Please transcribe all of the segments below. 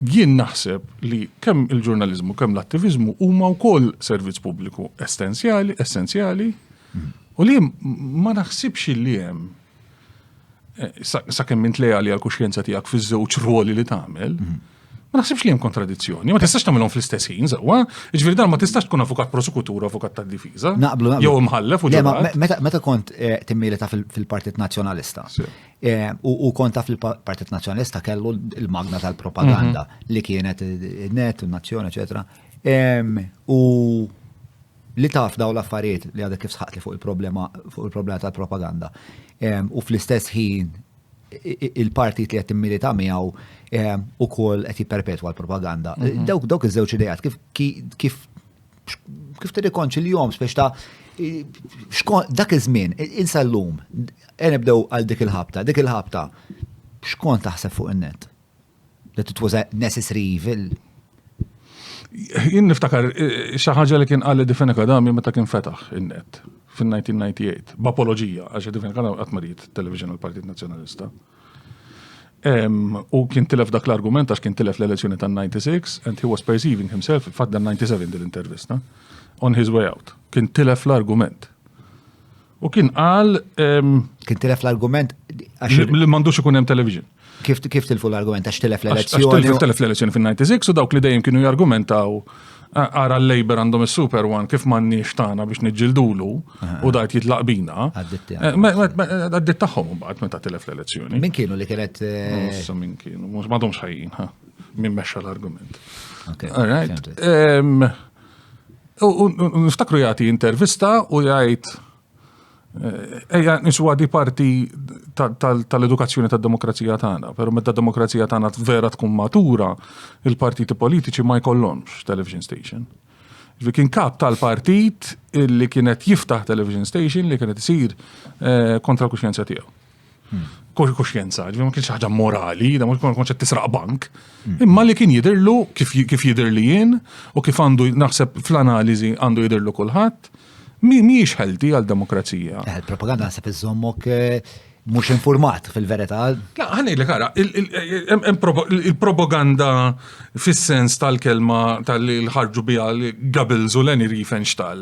Jien naħseb li kemm il-ġurnaliżmu kemm l-attiviżmu huma wkoll servizz pubbliku essenzjali, essenzjali, u li ma naħsibx li hemm eh, sakemm int leali għal kuxjenza tiegħek fiż-żewġ rwoli li tagħmel, ma naħsibx li hemm kontradizzjoni, ma tistax tagħmilhom fl-istess ħin sewwa, jiġifieri dan ma tistax tkun avukat prosekutur, avukat tad-difiża. Naqblu, naqblu. Jew imħallef u ġewwa. Meta kont eh, timmili ta' fil-Partit Nazzjonalista, Eh, u kont taf li l-Partit Nazzjonalista kellu l-magna tal-propaganda mhm. li kienet net, nazzjoni, eċetera. U li taf daw l-affarijiet li għadek kif sħaqt li fuq il-problema fuq il-problema tal-propaganda. U fl-istess ħin il-partit li qed immilita miegħu u kol qed jipperpetwa l-propaganda. Mhm. Dawk dawk iż-żewġ idejat kif kif kif tirrikonċiljhom spiex ta' dak iż-żmien, insa llum, e nibdew għal dik il-ħabta, dik il-ħabta, xkont taħseb fuq in-net? That it was a necessary evil. Jien niftakar eh, xi ħaġa li kien qal Difena Kadami meta kien fetaħ in-net fin-1998 b'apoloġija għax Difena Kadami qatt marid television għall-Partit Nazzjonalista. U kien tilef dak l-argument għax kien tilef l-elezzjoni tan-96 and he was perceiving himself fatt dan 97 din l-intervista on his way out. Kien tilef l-argument. U kien qal kien tilef l-argument għax li m'għandux ikun hemm television. Kif kif tilfu l-argument għax tilef l-elezzjoni? Għax tilef l-elezzjoni fin-96 u dawk li dejjem kienu jargumentaw Ara l-Labour għandhom il-Super One kif m'għandniex tagħna biex niġġildulu u dajt jitlaq bina. Għaddit tagħhom mbagħad meta tilef l-elezzjoni. Min kienu li kienet. Issa min kienu, mhux m'għadhomx ħajjin, ha. Min mexxa l-argument. Niftakru jagħti intervista u jgħid Ejja niswa di parti tal-edukazzjoni tad-demokrazija tagħna, però meta d-demokrazija tagħna vera tkun matura, il-partiti politiċi ma jkollhomx television station. Ġifi kien kap tal-partit li kienet jiftaħ television station li kienet isir eh, kontra l-kuxjenza tiegħu. kuxjenza, ġifieri ma kienx ħaġa morali, da mhux ma konċet tisraq bank, mm. imma li kien jidirlu kif jidir li jien u kif għandu naħseb fl-analiżi għandu jidirlu kulħadd, mhijiex ħelti għal demokrazija. Eh, il-propaganda naħseb iżommok eh, mhux informat fil-verità. La, ħanejlek ara, il-propaganda fis-sens tal-kelma tal-ħarġu biha Goebbels u Leni Riefenstahl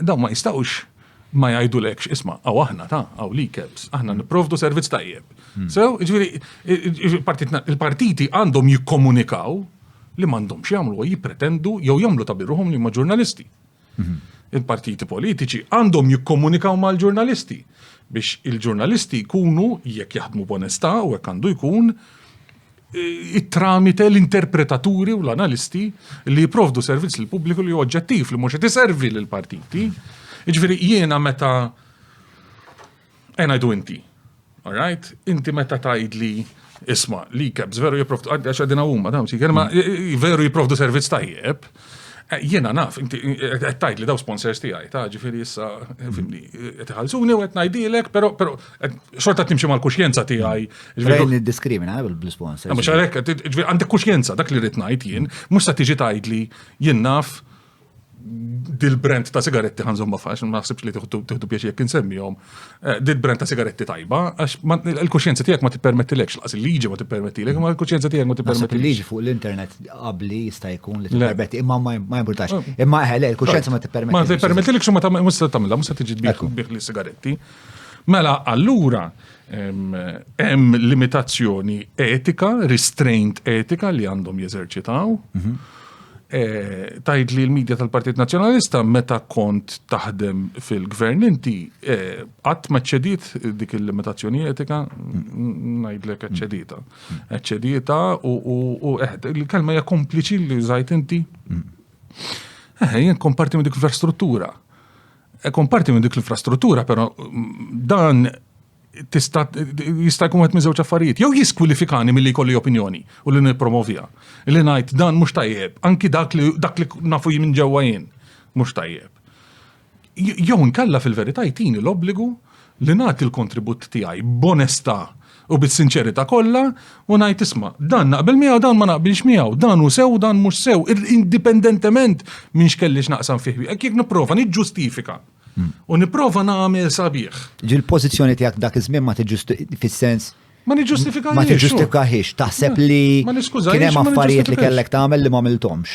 Dawn ma jistgħux ma jgħidulekx isma' għaw aħna ta' għaw li kebs, aħna nipprovdu servizz tajjeb. Hmm. Sew, ġifieri il-partiti għandhom jikkomunikaw li m'għandhomx jagħmlu jippretendu jew jagħmlu ta' birruhom li ma' ġurnalisti. Hmm. Il-partiti politiċi għandhom jikkomunikaw mal-ġurnalisti biex il-ġurnalisti jkunu jekk jaħdmu b'onestà u hekk għandu jkun it-tramite l-interpretaturi u l-analisti li jiprovdu servizz l pubbliku li oġġettiv li mhux qed iservi l partiti. Jiġifieri jiena meta għajdu inti. Alright? Inti meta tgħidli isma' li kebs veru jipprovdu għax għadina huma dawn si kelma mm. veru jipprovdu servizz tajjeb. Eh, jiena naf, inti eh, qed tgħidli daw sponsors tiegħi, ta' ġifieri issa eh, fimni, qed iħallsuni u qed ngħidilek, però Xorta timxi mal-kuxjenza tiegħi. Rejn id-diskrimina eh, bil-sponsor. Mhux għalhekk, għandek kuxjenza dak li rrid ngħid jien, mhux se tiġi tgħidli jien naf dil-brand ta' sigaretti ħanżom fax, ma naħsibx li tiħdu biex jekk insemmihom, eh, dil-brand ta' sigaretti tajba, għax il-kuxjenza tiegħek ma tippermettilekx, laqas il-liġi ma tippermettilek, ma l-kuxjenza tiegħek ma tippermettilek. Il-liġi fuq l-internet qabli jista' jkun li tippermetti, imma ma jimportax. Oh. Imma eħe, eh, le, il-kuxjenza ma tippermettilekx. Ma tippermettilekx u ma tagħmilha, mhux se tiġi bih li sigaretti, Mela allura hemm limitazzjoni etika, restraint etika li għandhom jeżerċitaw. Mhm. Eh, Tajd li l-medja tal-Partit Nazzjonalista meta kont taħdem fil-gvern inti eh, qatt ma ċedit dik il-limitazzjoni etika ngħidlek ċedita. Ċedita u eh, il-kelma hija kompliċi li żajt inti. Eh, jien komparti minn dik infrastruttura. Ikun parti minn dik l-infrastruttura, però dan jista' jkun qed miżewġ affarijiet. Jew jiskwilifikani milli jkolli opinjoni u li nippromovija. Li ngħid dan mhux tajjeb, anki dak li dak li nafu minn ġewwa jien mhux tajjeb. Jew inkella fil-verità jtini l-obbligu li nagħti l-kontribut tiegħi b'onestà u bis-sinċerità kollha u ngħid isma', dan naqbel miegħu dan ma naqbilx miegħu, dan hu sew dan mhux sew, indipendentement minn x'kelli x'naqsam fih miegħek, jekk nipprova niġġustifika u nipprova nagħmel sabiħ. Ġieli l-pożizzjoni tiegħek dak iż-żmien ma fis-sens Ma niġġustifikahiex. Ma tiġġustifikahiex, taħseb li kien hemm affarijiet li kellek tagħmel li ma għamilthomx.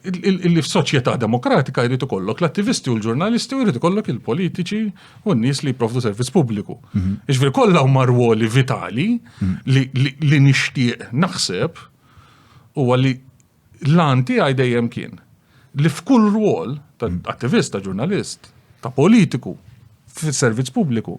illi f'soċjetà demokratika jrid ikollok l-attivisti u l-ġurnalisti u jrid ikollok il-politiċi u n-nies li jipprovdu servizz pubbliku. Mhm. Iġveri kollha huma rwoli vitali mhm. li nixtieq naħseb u għalli l-anti għaj dejjem kien li f'kull rwol ta' mhm. attivist, ta' ġurnalist, ta' politiku, fis-servizz pubbliku,